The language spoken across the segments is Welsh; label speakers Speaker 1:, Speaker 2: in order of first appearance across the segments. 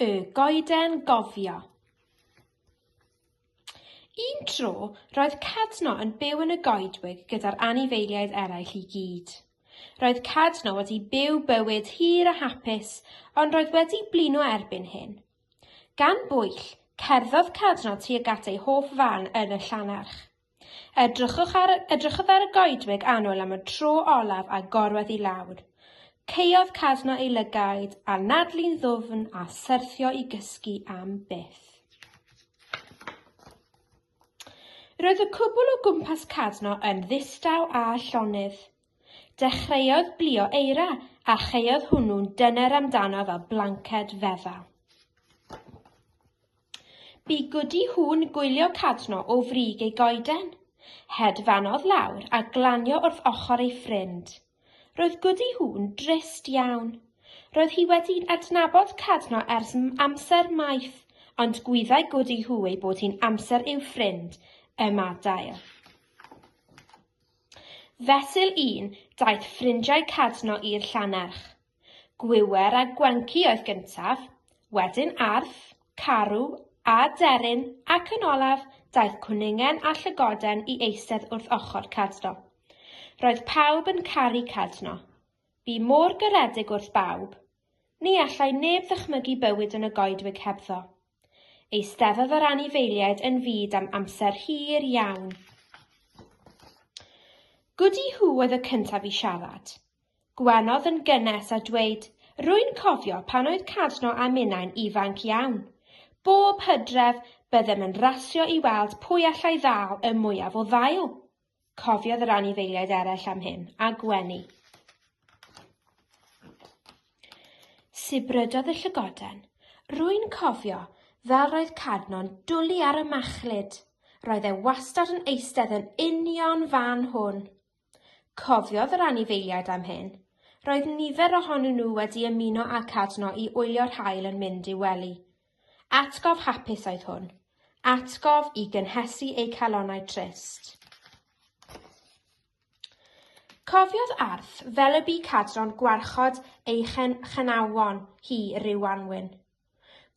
Speaker 1: Y goeden gofio. Un tro, roedd Cadno yn byw yn y goedwig gyda'r anifeiliaid eraill i gyd. Roedd Cadno wedi byw bywyd hir a hapus, ond roedd wedi blino erbyn hyn. Gan bwyll, cerddodd Cadno tuag at ei hoff fan yn y llannerch. Edrychwch ar, edrychwch ar y goedwig annwyl am y tro olaf a gorwedd i lawr. Caeodd casno ei lygaid a nadlu'n ddwfn a syrthio i gysgu am byth. Roedd y cwbl o gwmpas casno yn ddistaw a llonydd. Dechreuodd blio eira a chaeodd hwnnw'n dyner amdano fel blanced fedda. Bu Gwdi Hŵn gwylio cadno o frig ei goeden. Hedfanodd lawr a glanio wrth ochr ei ffrind. Roedd Gwdi Hŵn drist iawn. Roedd hi wedi adnabod cadno ers amser maith, ond gwyddai Gwdi Hŵ ei bod hi'n amser i'w ffrind ymadael. Fesul un daeth ffrindiau Cadno i'r Llannerch. Gwiwer a Gwenci oedd gyntaf, wedyn Arth, Carw, a Deryn, ac yn olaf, daeth Cwningen a Llygoden i eistedd wrth ochr Cadno. Roedd pawb yn caru Cadno. Bu mor garedig wrth bawb. Ni allai neb ddychmygu bywyd yn y goedwig hebddo. Eisteddodd yr anifeiliaid yn fyd am amser hir iawn. Goody Hugh oedd y cyntaf i siarad. Gwenodd yn gynnes a dweud, Rwy'n cofio pan oedd Cadno a minnau'n ifanc iawn. Bob hydref, byddem yn rasio i weld pwy allai ddal y mwyaf o ddail. Cofiodd yr anifeiliaid eraill am hyn, a gwenu. Sibrydodd y llygoden. Rwy'n cofio, fel roedd Cadno'n dwlu ar y machlud. Roedd e wastad yn eistedd yn union fan hwn. Cofiodd yr anifeiliaid am hyn. Roedd nifer ohonyn nhw wedi ymuno â Cadno i wylio'r haul yn mynd i'w wely. Atgof hapus oedd hwn. Atgof i gynhesu eu calonau trist. Cofiodd Arth fel y bu cadron gwarchod ei chenawon hi ryw wanwyn.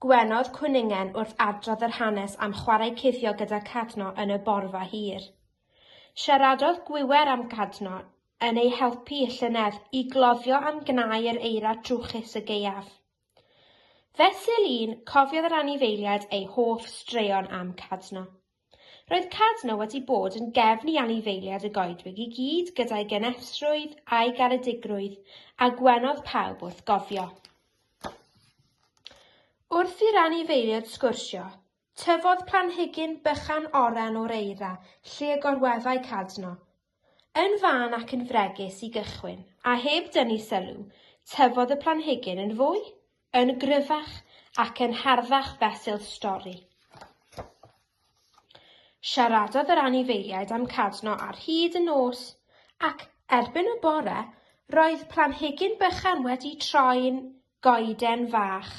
Speaker 1: Gwenodd Cwningen wrth adrodd yr hanes am chwarae cuddio gyda Cadno yn y borfa hir. Siaradodd Gwiwer am Gadno yn ei helpu y llynedd i gloddio am gnau yr eira trwchus y gaeaf. Fesul Lŷn cofiodd yr anifeiliaid ei hoff straeon am Cadno. Roedd Cadno wedi bod yn gefn i anifeiliaid y goedwig i gyd gyda'i genefsrwydd a'i garedigrwydd, a gwenodd pawb wrth gofio. Wrth i'r anifeiliaid sgwrsio, tyfodd planhigyn bychan oren o'r eira lle y gorweddai Cadno, Yn fân ac yn fregus i gychwyn, a heb dynnu sylw, tyfodd y planhigyn yn fwy, yn gryfach ac yn harddach fesul stori. Siaradodd yr anifeiliaid am Cadno ar hyd y nos, ac erbyn y bore roedd planhigyn bychan wedi troi'n goeden fach.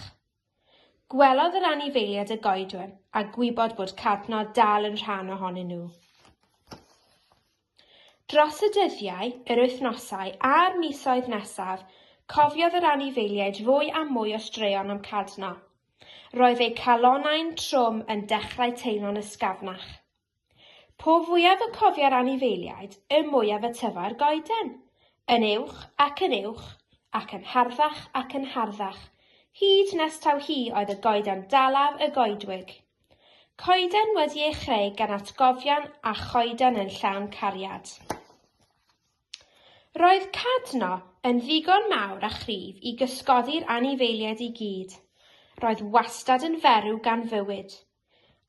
Speaker 1: Gwelodd yr anifeiliaid y goedwir a gwybod bod Cadno dal yn rhan ohonyn nhw. Dros y dyddiau, yr wythnosau a'r misoedd nesaf, cofiodd yr anifeiliaid fwy a mwy o straeon am Cadno. Roedd eu calonnau'n trwm yn dechrau teimlo'n ysgafnach. Po fwyaf y cofia'r anifeiliaid, y mwyaf y tyfai'r goeden. Yn uwch ac yn uwch, ac yn harddach ac yn harddach, hyd nes taw hi oedd y goeden dalaf y goedwig. Coeden wedi ei chreu gan atgofion a choeden yn llawn cariad. Roedd Cadno yn ddigon mawr a chryf i gysgodi'r anifeiliaid i gyd. Roedd wastad yn ferw gan fywyd,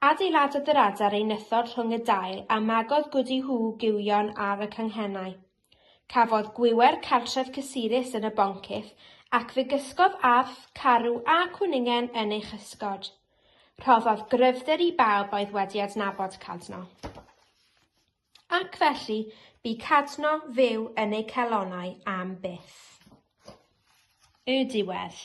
Speaker 1: Adeiladodd yr adar ei nythod rhwng y dail a magodd Gwdi Huw gywion ar y canghennau. Cafodd Gwiwer cartref cysurus yn y boncyff ac fe gysgodd arth, carw a cwningen yn ei chysgod. Rhoddodd gryfder i bawb oedd wedi adnabod Cadno. Ac felly, bu Cadno fyw yn eu calonnau am byth. Y diwedd.